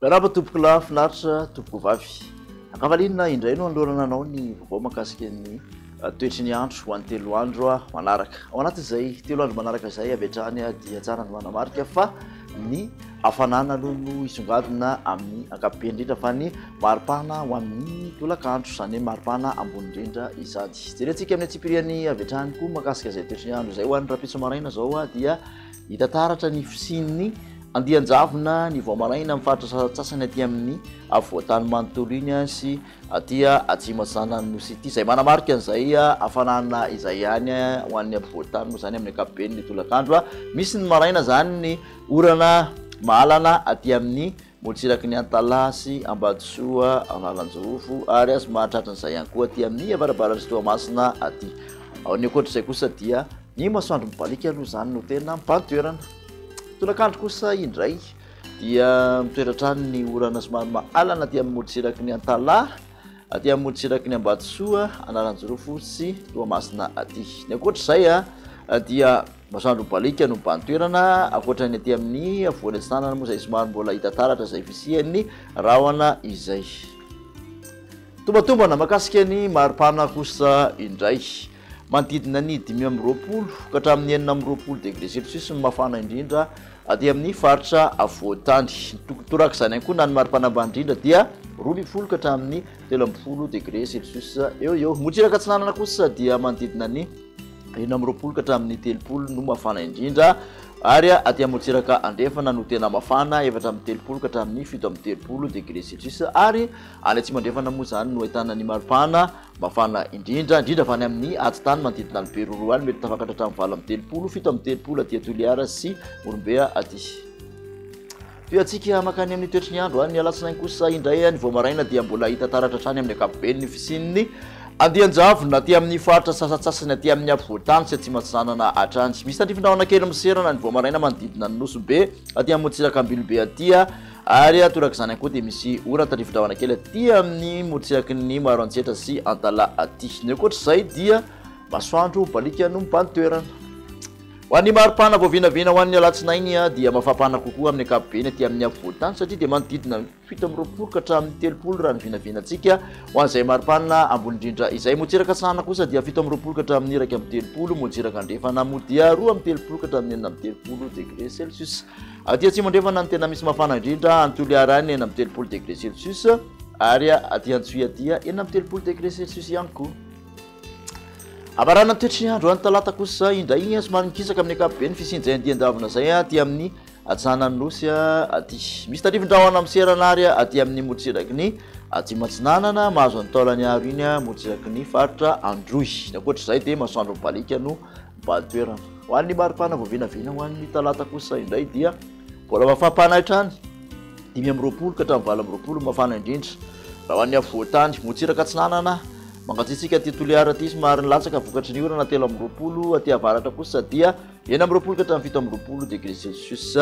Miarahaba tompoko lahy, finaritra tompoko vavy. Ankavaliana indray no anolorana anao ny vaovao makasika ny ah, toetry ny andro ho an'ny telo andro ah, manaraka. Ao anatin'izay telo andro manaraka izay avy hatrany ah, dia tsara ny manamarika fa Ny hafanana aloha no hisongadina amin'ny ankapobeny indrindra fa ny maripana ho amin'ny tolakandro, izany hoe maripana ambony indrindra izany. Jerentsika amin'ny antsipiriany avy hatrany koa mahakasika izay toetry ny andro izay. Ho an'ny rahampitso maraina izao dia hita taratra ny fisian'ny andian-javona ny vao maraina amin'ny faritra sasantsasany aty amin'ny afovoan-tany manontolo iny sy Aty Atsimo Atsinanan' ny Nosy ity. Izay manamarika an'izay hafanana izay ihany ho an'ny ampovoan-tany moa izany amin'ny ankapobeny ny tolakandro. Misy ny maraina izany ny orana mahalana aty amin'ny morontsiraky ny Antalaha sy Ambatosoa Analanjirofo ary azo mahatratra an'izay ihany koa aty amin'ny avarabaran'i Toamasina aty. Ao ny ankoatra izay kosa dia ny masoandro mibaliaka aloha izany no tena mibahan-toerana. Tolakandro kosa indray. dia mitoetra hatrany ny orana somary mahalana aty amin'ny morontsiraky ny Antalaha, aty amin'ny morontsiraky ny Ambatosoa, Analanjirofo sy Toamasina aty. Ny ankoatra izay dia masoandro mibaliaka no mibahan toerana, ankoatra ny aty amin'ny afovoany atsinanana moa izay somary mbola hita taratra izay fisian'ny rahona izay. Tombatombana makasika ny maripana kosa indray. Manodidina ny dimy amby roapolo ka hatramin'ny enina amby roapolo degré celcius ny mafana indrindra aty amin'ny faritra afovoan-tany. Torak'izany ihany koa na ny maripana ambany indrindra dia roa ambin'ny folo ka hatramin'ny telo ambin'ny folo degré celcius eo ho eo. Motsiraka Atsinanana kosa dia manodidina ny enina amby roapolo ka hatramin'ny telopolo no mafana indrindra ary aty amin'ny Motsiraka Andrefana no tena mafana, efatra amby telopolo ka hatramin'ny fito amby telopolo degré celcius ary any Atsimo Andrefana moa izany no ahitana ny maripana. Mafana indrindra indrindra avy any amin'ny atitany manodidina ny Beroroha any, mety tafakatra hatramin'ny valo amby telopolo, fito amby telopolo aty Toliara sy Morombeha aty. Toy antsika makany amin'ny toetry ny andro any ny alatsinainy kosa indray any vao maraina dia mbola hita taratra hatrany amin'ny ankapobeny ny fisian'ny andian-javona aty amin'ny faritra sasatsasany aty amin'ny afovoan-tany sy atsimo-atsinanana hatrany. Misy tandrifin-drahona kely miserana any vao maraina manodidina ny Nosy Be aty amin'ny motsiraka Ambilobe aty. Ary atorak'izany ihany koa dia misy oran tandrifindrahona kely aty amin'ny morontsiraky ny Maroantsetra sy Antalaha aty. Ny ankoatr'izay dia masoandro baliaka no mibahan toerana. Ho an'ny maripana vao vinavina ho an'ny alatsinainy dia mafampana kokoa amin'ny ankapobeny aty amin'ny afovoan-tany satria dia manodidina ny fito amby roapolo ka hatramin'ny telopolo raha ny vinavinantsika ho an'izay maripana ambony indrindra. Izay motsiraka atsahana kosa dia fito amby roapolo ka hatramin'ny iraika amby telopolo, motsiraka andrefana moa dia roa amby telopolo ka hatramin'ny enina amby telopolo degre celcius. Aty atsimo andrefana ny tena misy mafana indrindra, any Toliara any enina amby telopolo degré celsius, ary aty Antsohihy aty enina amby telopolo degré celsius ihany koa. Hamarana ny toetry ny andro any talata kosa indray somary mikisaka amin'ny ankapobeny fisinjain'ny dian-davona izay aty amin'ny atsanan'ny nosy aty. Misy tarifindrahona miserana ary aty amin'ny morotsiraky ny atsimo atsinanana mahazo ny taolany aro iny morotsiraky ny faritra Androy. Ny ankoatra izay dia masoandro mibaliaka no mibahan toerana. Ho an'ny maripana vao vinavina ho an'ny talata kosa indray dia mbola mafampana hatrany, dimy amby roapolo ka hatramin'ny valo amby roapolo mafana indrindra. Raha ho an'ny afovoan-tany, motsiraka atsinanana, mangatsiatsiaka aty Toliara aty somary nilatsaka vokatry ny orana telo amby roapolo, aty avaratra kosa dia enina amby roapolo ka hatramin'ny fito amby roapolo degré celsius,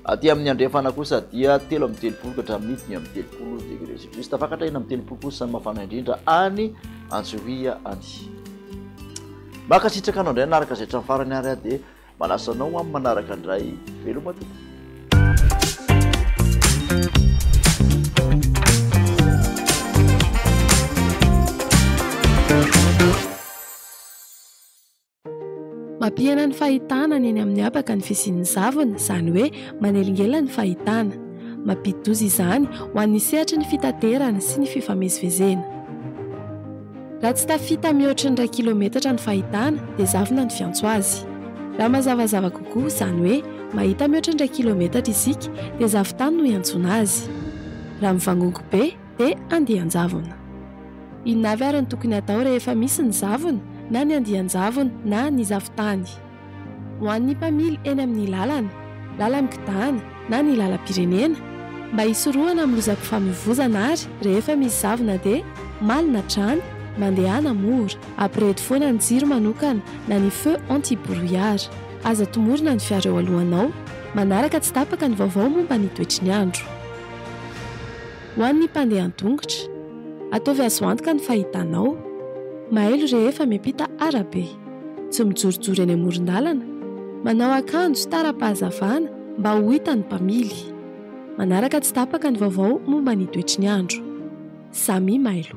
aty amin'ny andrefana kosa dia telo amby telopolo ka hatramin'ny dimy amby telopolo degré celsius. Tafakatra enina amby telopolo kosa ny mafana indrindra any Antsohihy any. Mankasitraka anao indray nanaraka izay hatramin'ny farany ary aho dia manasa anao ho amin'ny manaraka indray. Veloma tompoko. Mampihena ny fahitana ny eny amin'ny habaka ny fisian'ny zavona, izany hoe manelingelina ny fahitana. Mampidi-doza izany ho an'ny sehatry ny fitaterana sy ny fifamezivezena. Raha tsy tafita mihoatry ny iray kilometatra ny fahitana dia zavona ny fiantso azy. Raha mazavazava kokoa, izany hoe mahita mihoatry ny iray kilometatra isika dia zavon-tany no iantsoana azy. Raha mivangongo be dia andian-javona. Inona avy ary no tokony hatao rehefa misy ny zavona na ny andian-javona na ny zavon-tany? Ho an'ny mpamily eny amin'ny lalana, lalan-kidana na ny lalam-pirenena, mba hisorohana amin'ny lozam-pifamoivoizana ary rehefa misy zavona dia malina drano, mandehana mora. Ampirehito foana ny jiro manokana na ny feu anti brouillard. Aza tomorina ny fiara eo alohanao. Manaraka tsy tapaka ny vaovao momba ny toetry ny andro. Ho an'ny mpandeha an-tongotra, ataovy azo antoka ny fahitanao. Mailo rehefa miampita arabe. Tsy mijorojoro eny amoron-dalana. Manao akanjo tara-pahazavana mba ho hitan'ny mpamily. Manaraka tsy tapaka ny vaovao momba ny toetry ny andro. Samy mailo.